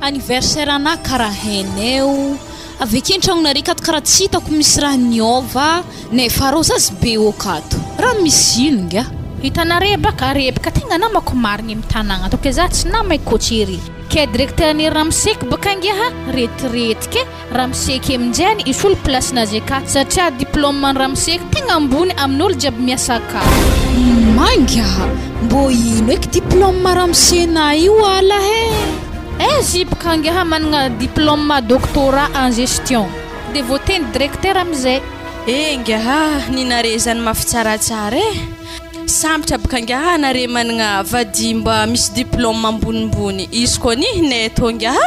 Anniversaire ana karaha haineo. Avy akia an-tragnonareo kato karaha tsy hitako misy raha niôva nefa rô za sy be ok ato. Raha misy ino ingahy? Hitanare baka ary baka tegna namako marigny am tagnagna ato ke za tsy nama i coach ery ke directeur ny ramoseko baka ingahy retirety ke. Ramsey Kemjani hisolo place Nazeka satria diplôme an'i Ramsey tegna ambony amin'olo jiaby miasa aka. Mainga! Mbô ino eky diplôme ramosena io ala he? Eh zip ka angaha managna diplôme doctorat en gestion de voateny directeur amizay. Eh ngaha ny nare zany mafy tsaratsara eh! Sambotra bka ngaha nare managna vady mba misy diplôme ambonimbony izy koa anie neto ngaha?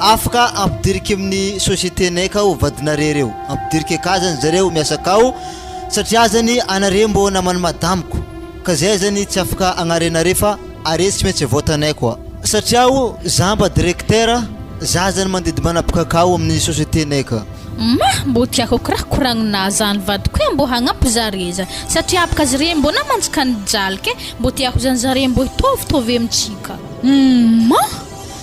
Afaka ampidiriko amin'ny société nay ka ho vadinareo reo. Ampidiriko akà zany zareo miasa akao satria zany anareo mbô naman'i madamiko ka zay zany tsy afaka agnarenareo fa are tsy maintsy vote anay koa. Satria aho zah mba directeur, zah zany mandidy manapaka akao amin'ny société nay ka. Mah! Mbô tiako kiraha koragnina zany vadiko eh mbô hagnampy zare zany satria apaka zare mbô namantsika ka nijalika eh mbô tiako zany zare mbô hitaovy taovy amintsika. Humm mah!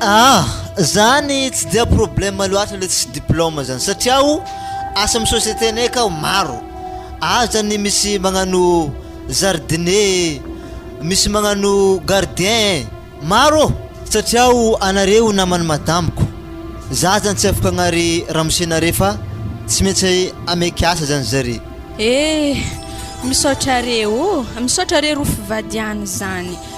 Ah! Zany tsy dia problème loatra le tsisy diplôme zany satria o asa amin'ny société-nay akao maro, ao zany misy magnano jardinier, misy magnano gardien e, maro ô! Satria o anareo naman'ny madamiko, za zany tsy afaka agnary ramose nare fa tsy maintsy ameky asa zany zare. Eh! Misaotra are o! Misaotra are rofy vady any zany.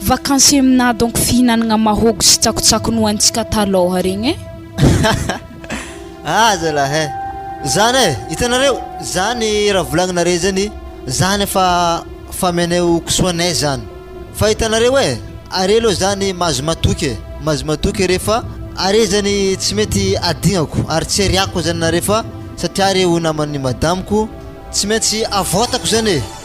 Vacances mna donc fihinanagna mahôgo sy tsakotsako nohanintsika talôha regny e! Aza lahy e! Zany e! Hitanareo, zany raha volagninareo zany, zany efa fameanay ho kisoanay zany. Fa hitanareo e! Are aloha zany mahazo matoky e! Mahazo matoky are fa are zany tsy mety adignako ary tsy ariàko zany nareo fa satria are ho naman'ny madamiko tsy maintsy avoatako zany e!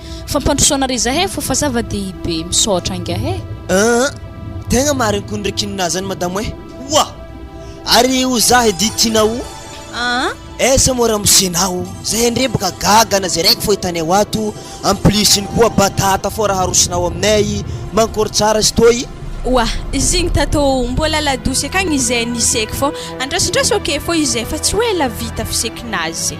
Fampandrosoana re zahay fo fa zava dehibe misaotra angaha e. Ahh tegna marigny kony re kinona zany madamo eh. Oa! Ary o za edy Tina o. Ahh. Aiza moa ramosena o, zahay ndre boka gaga na zay raiky fô hitanay ho ato, en plus iny koa batata fô raha arosonao aminay, mankôry tsara izy tô i. Oa! Izy igny tatô o, mbôla la douce akagny izay ny sec fô, andrasindraso ok fô izay fa tsy hoe la vita fisekinazy.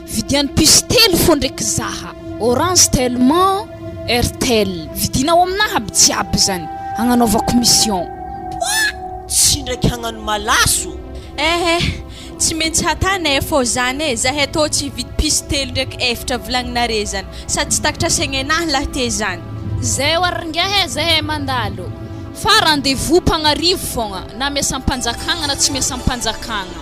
Vidiany puce telo fô ndreky zaha. Orange tellement Airtel. Vidina ao amina aby jiaby zany agnanaovako mission. Pouah! Tsy ndraiky hagnano malaso. Eh eh, tsy mentsy hatany eh, fô zany eh, zahay atô tsy hividy puce telo ndreky eftra volagninare zany, sady tsy takatra segnenahy lahy te zany. Zay oa rngahy eh, zahay mandalo fa rendez-vous mpagnarivo fôgna, na miasampanjakagna na tsy miasampanjakagna.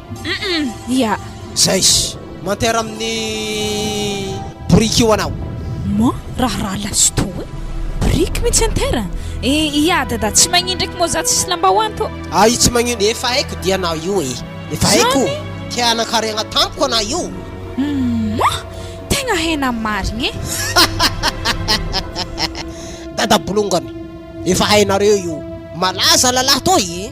Humm ya. Zais. Manter amin'ny boriky io anao. Mò raharaha lasto e. Boriky mintsy enter e. Ya dada tsy magnin ndraiky mò za tsisy lambahoany tô. Ahy tsy magnin. Efa haiko dia anao io e. Efa haiko. Te hanan-karena tamiko anao io. Mò tegna hainao marigny e. Dada bolongany. Efa hainareo io. Malaza lalahy toy.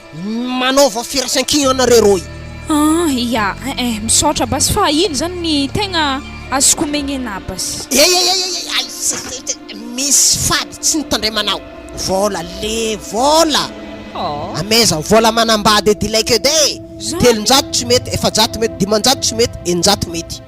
Manaova firaisankina nareo roy. An ia eh eh misaotra basy fa ino zany ny tegna azoko omegny anah basy. Eeieieiei aiza zay te misy fady tsy nitandremanao vola le vola Aww. amaiza vola manambady edy ilay kede Zany. telonjato tsy mety efajato mety dimanjato tsy mety eninjato mety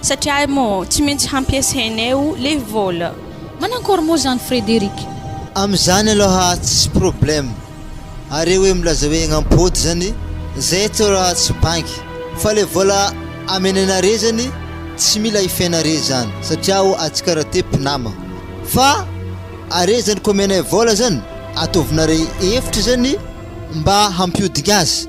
Satria ahy moa tsy maintsy hampiasainay o le vola. Manankory moa zany Frederic? Amzany aloha tsisy problème are oe milaza oe gn'ampôdy zany zay eto raha tsy banky fa le vola amenanare zany tsy mila ifenare zany satria o atsika ra te mpinama fa are zany ko omenay vola zany ataovinare efitra zany mba hampihodigna azy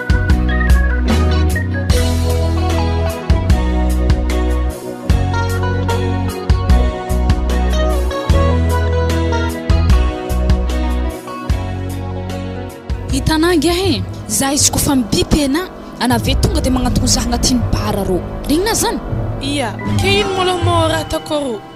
za izy ko fa mibipena ana ve tonga dia magnatogno za agnatin'ny bara rô rignina zany ia ke ino molo mora ataoko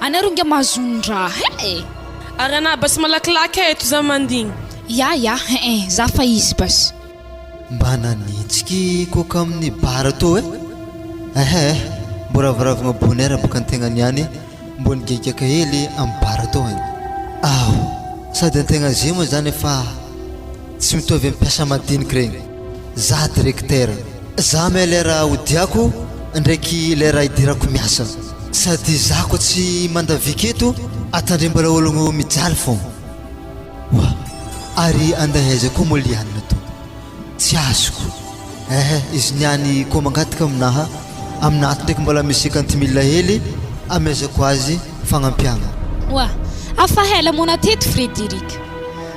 Any ary inga mahazonin-draha eh! Ary anah basy malakilaky eh eto za mandigny. Yah yah eh eh za fa izy basy. Mba nanitsiky coca amin'ny bar tao eh! Ehh ehh mbo raviravigna bonheur boka antegna niany mbo nigegaka hely amin'ny bar tao eh! Aow sady antegna zay moa zany efa tsy mitovy amin'ny mpiasa madiniky regny. Za directeur, za me lera odiako ndraiky lera idirako miasa sady za ko tsy mandavika eto atandrimbala ologno mijaly fôgna wa ary andeha aiza ko mo Liana to tsy azoko ehe izy niany ko mangataka aminaha amina ato ndraiky mbola misy cinquante mille hely amezako azy fagnampiagna. Wa, afa hela mona teto Frederick,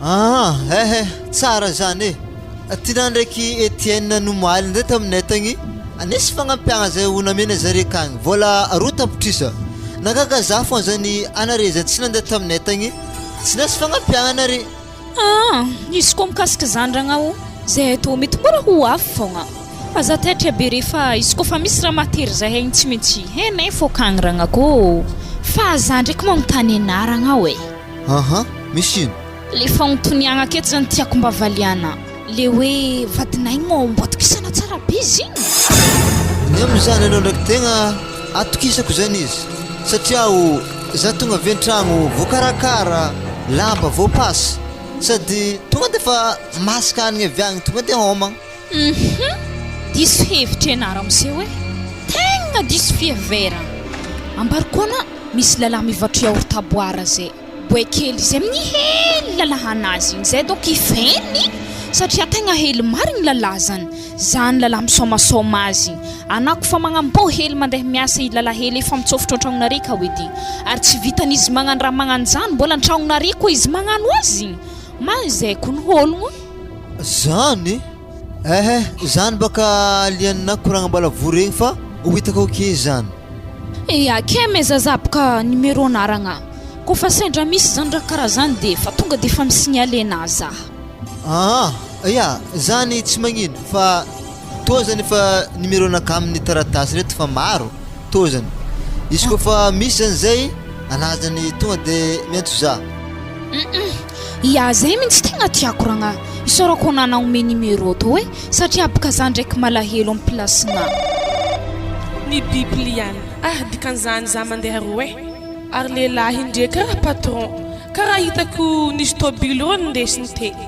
Aa eh eh tsara zany e! Tiana ndraiky Etienne nomaly ndray taminay tagny nisy fagnampiagna zay ho namena zare kagny vola roa tapitrisa, nagaga za fô zany anare zay tsy nande taminay tagny tsy nasy fagnampiagna nare. Aa izy koa mikasika zany ragna o zay atao mety mora ho avy fôgna fa za taitra be re fa izy koa fa misy raha mahatery za egny tsy mentsy henay fô kagny ragna koo fa za ndraiky manontany anah ragna oe. Aha, misy ino? Le fanontoniagna aketo zany tiako mba valiana. Le hoe vadinay mo mbo atokisana tsara be izy igny? Ny amin'ny zanany eo ndraiky tegna atokisako zany izy satria o za tonga avy an-tragno voakarakara, lamba voapasy sady tonga defa masaka hanigny avy agny tonga de hômagna. Hum diso hevitra ianareo miseho e! Tegna diso fiheverana! Ambarikona misy lalahy mivatro yaourt à boire zay, boay kely izy amin'ny hely lalahanazy igny zay donc hifehy satria tegna hely marigny ny lalazany, zany lalahy misaomasaoma azy igny, anao koa fa magnamboa hely mandeha miasa i lalahy hely efa mitsôfotro an-tragnonareo ka edy ary tsy vitan'izy magnano raha magnano zany mbola an-tragnonareo koa izy magnano azy igny, mahay zay koa ny ologno. Zany? Ehe, zany baka alien na koragnam-balavoa regny fa ho hitako ao ke zany. Eia kee me zazah boka numéro anaragna ko fa sendra misy zany raha karaha zany de fa tonga de fa mi signaler na zah. Aa, eia, zany tsy magnino fa. Toa izany efa numeronaka amin'ny taratasy ireto fa maro, toa izany. Izy koa fa misy izany izay hanaja ny tonga dia miantso za. Ia zay mintsy tegna tiako ragnahy, isaorako anao nagnome numéro tô e, satria boka za ndraiky malahelo am placenao. Ny biple ihany ah dikan'izany za mandeha roe eh. Ary lehilahy ndreka patron, karaha hitako nisy tôbily rô nindesiny teo.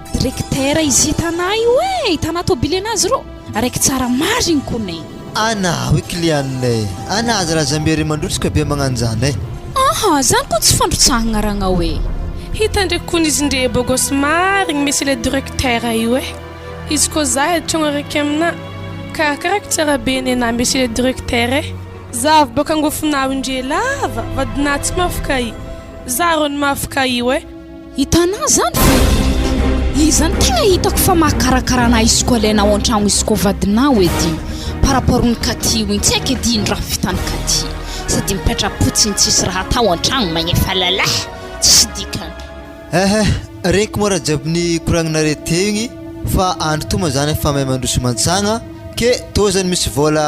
Directeur izy hitanà io e! Hitanà tôbily anazy rô! Araiky tsara marigny kony e! Anà hoy client-ny e! Anà aza razambe re mandrotsaka be magnan'izany e! Aha! Zany kony tsy fandrotsahagna ragnao e! Hita ndreky kony izy ndre beau gosse marigny monsieur le directeur io e! Izy kô zah e tragno araiky aminà ka ka araiky tsara be nenà monsieur le directeur e! Zah avy bôka angofonà io ndre lava vadinà tsy mafy ka i! Zah rô no mafy ka io e! Hitanà izany ve? Iza no tegna hitako fa mahakarakara anà isoko alainà ao an-tragno isoko ao vadinà hoy edy iny par rapport ny Katy hoy tsy haiko edy ino raha vitan'i Katy sady mipetra-potsiny tsisy raha atao an-tragno magnefa lalah tsisy dikany. Ehe, regniko moa raha jiaby nikoragninà re teo igny fa andro toa moa zany efa mahay mandroso mantsagna ke tô zany misy vôla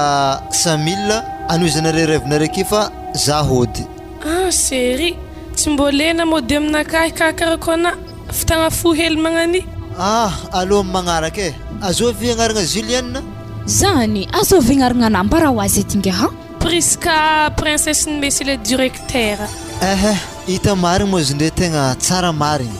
cent mille anohizanareo rêve-nareo ke fa za hody. Ah chéri, tsy mbô lena mody aminakahy hikarakarako anà, fitagna fo hely magnan'y. Ah allo amin'ny magnaraka e. Azoa ve agnaragna Julienne? Zany, azoa ve agnaragna anà mba raha ho azy ety ingaha? Prisca, princesse-n'i Messi le directeur. Ehe, hita marigny moa izy ndre tegna tsara marigny.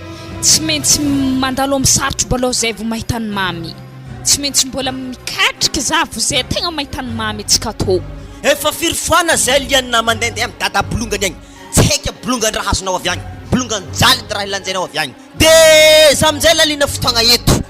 Tsy maintsy mandalo amin'ny sarotra mbola zay vao mahita ny mamy Tsy maintsy mbola mikatrika za vao zay tegna mahita ny mamy tsy kato Efa firy foana zay liana mandendeha am dada bolongany agny Tsy haiko aby bolongany raha azonao avy agny Bolongany jaly ny raha lanjainao avy agny Dia za aminjay laliana fotoagna eto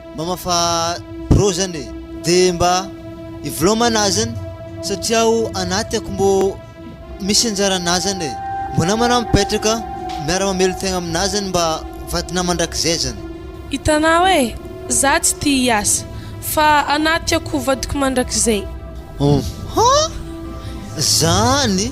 Mama fa bro zany e de mba ivoloma anazany satria aho anaty ako mbo misy anjaranazany e mbo namana mipetraka miara mamelo tegna aminazany mba vadina mandrakizay zany. Hitanao e za tsy tia hiasa fa anaty ako vadiko mandrakizay. Humm zany.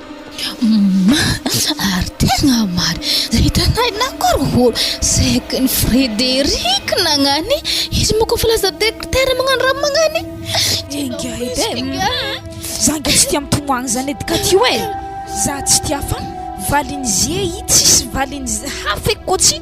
Humm ary tegna marigny zay hitanay nagorohoro saiky ny Frederic nagnany izy mô kô fa lasa docteur magnano raha magnany Enga edy e za nga tsy tia mitomany zany edy ka ty oe za tsy tia fa valin'ze i tsisy valin'ze hafa eky kô tsy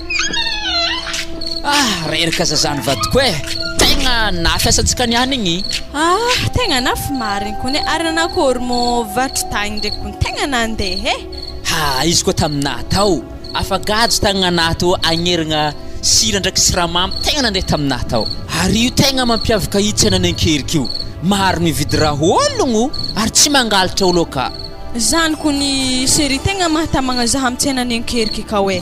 Ah, reraka zazany vadiko eh Tegna na fiasantsika niany igny Ah, tegna na fy marigny kony eh Ary nanakôry mô vatro tagny ndraiky kony tegna nandeha eh Ha, izy koa taminà tao Afagajo tagny anaty ô agnerigna sira ndraiky siramamy tegna nandeha taminà tao Ary io tegna mampiavaka i tsenan'i Ankerika io Maro mividy raha ologno ary tsy mangalatra olo akà. Zany kony serie tegna mahatamagna zaha am tsenan'i Ankerika akao eh.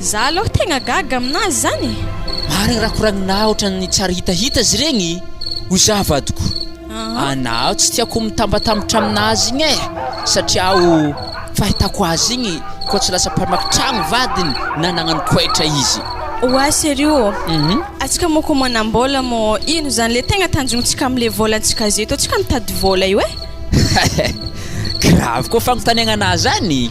Za aloha tegna gaga aminazy zany e! Marigny raha koragninaha ohatran'ny tsy ary hitahita izy regny hoy za vadiko anaho tsy tiako mitambatambatra aminazy igny eh satria o fahitako azy igny koa tsy lasa mpamaky tragno vadiny na nagnano koetra izy Oa serio ô! Atsika mô ko manam-bola mô ino zany le tegna tanjontsika amle volantsika zeto atsika mitady vola io eh! Gravy koa fagnontaniagnanaha zany!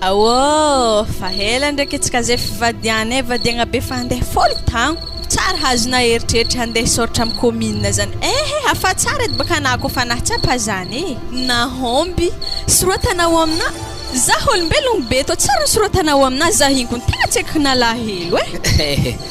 Aôô! Fa ela ndreky etsy ka zay fivadihanay vadiagna be fa handeha folo tagno. Tsara hazonay eritreritra handeha hisaoritra amin'ny commune zany ehe hafa tsara edy baka anah kô fa nahatsapa zany e! Nahomby! Soratana ao aminà! Zah olombelogno be tô tsara ny soratana ao aminà zah igny kony tegna tsy aiko nalahelo e!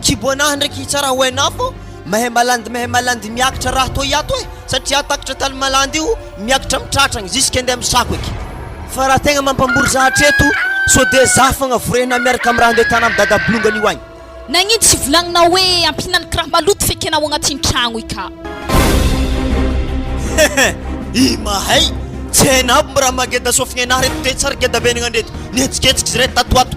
Kibo anahy ndray ki tsara ho hainao fô mahay malandy mahay malandy miakatra raha tô hiato e satria aho takatra tany malandy io miakatra am tratragny jusque ndeha misako eky fa raha tegna mampambory za hatreto so de za fogna vorehina miaraka am raha ndeha tana am dada bolongany io agny. Nagnino tsy volagninao hoe ampihinaniko raha maloto fa ekenao agnatin'ny tragno i ka. I mahay! Tsy hainao aby mba raha maha geda sofigny anahy reto te tsary geda venagna ndreto! Nihetsiketsika izy reto tato ho ato!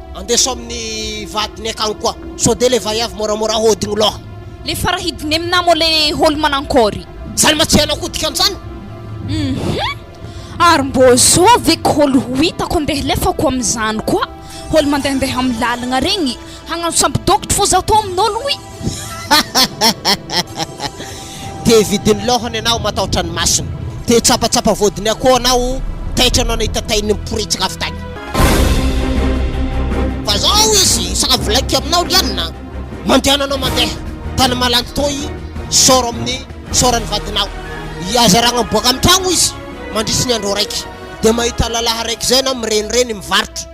Andeso amin'ny vadiny akagny koa. Sao de le vaiavy moramora hodigno loha. Le farahidiny aminamo le holo manankory. Zany ma tsy hainao koa dikan'zany? Hum ary mbô zô ve ko holo ho hitako andeha lefako amin'izany koa holo mandehandeha amin'ny lalagna regny hagnano sampy dôkotro fô zaho tô amin'olo oui. Te vidin'ny laohany ianao matahotra ny masony. Te hitsapatsapa vodiny akoho ianao taitra anao nahita tahin'ny miporitsika avy tany. Fa izao izy sakavilaika aminao lianina mandehananao mandeha tany malandy toy saoro amin'ny saoran'ny vadinao. Hiazaragna miboaka amin'ny tragno izy mandritry ny andro araiky dia mahita lalahy araiky izay na mirenireny mivarotra.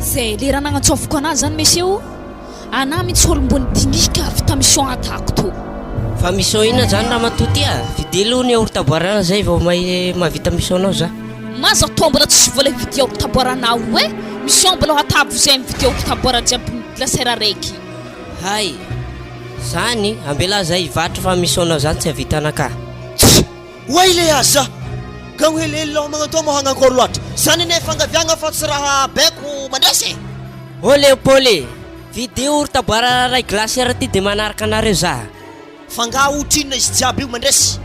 Zay le raha nagnantsofiko anah zany mesie o anah mintsy olombony dinika avy ta mission atako to Fa mission inona zany ramatoa ty a? Vidéo aloha ny aorotaboarana zay vao may mahavita mission nao za. Maza toa mbola tsisy vola hividia aorotaboarana aho eh! Mission mbola ho atabo izay mividia aorotaboarana jiaby ny glacière araiky. Hay! Zany, ambela zay hivarotra fa mission nao zany tsy hahavita anah ka. Oay le aza ka ho helihely lao magnantao mo hagnankôry loatra zany anie fangaviagna fa tsy raha baiko mandresy e! Olé o Paul e! Vidéo ry taboara raray glacière ty de manaraka anareo za. F'angaha otrinona izy jiaby io mandresy?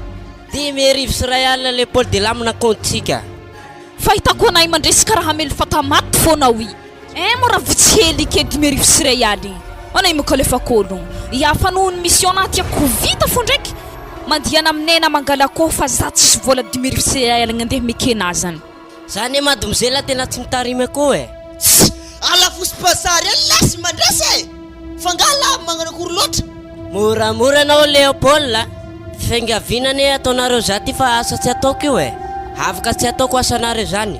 Dimy arivo sy iray alina le Paul de lamina compte tsika. Fahitako anay mandresy karaha hamelo fata maty fona oui. Eeh mora vitsy hely ike dimy arivo sy iray aly ana i mokalefa kolo i afa noho ny mission naty a ko vita fo ndraiky mandihana am nena mangala ko fa za tsisy vola dimy arivo sy iray aligny andeha mekena azany. Za ne madmzela tena tsy mitarimy akoho e. Tsy ala fo sy bazary any lasy mandrasa e! Fa nga lava magnano akory loatra? Moramora anao Léopold a! Fiangaviana anie ataonareo za ty fa asa tsy ataoko io e! Havoka tsy ataoko asanareo zany!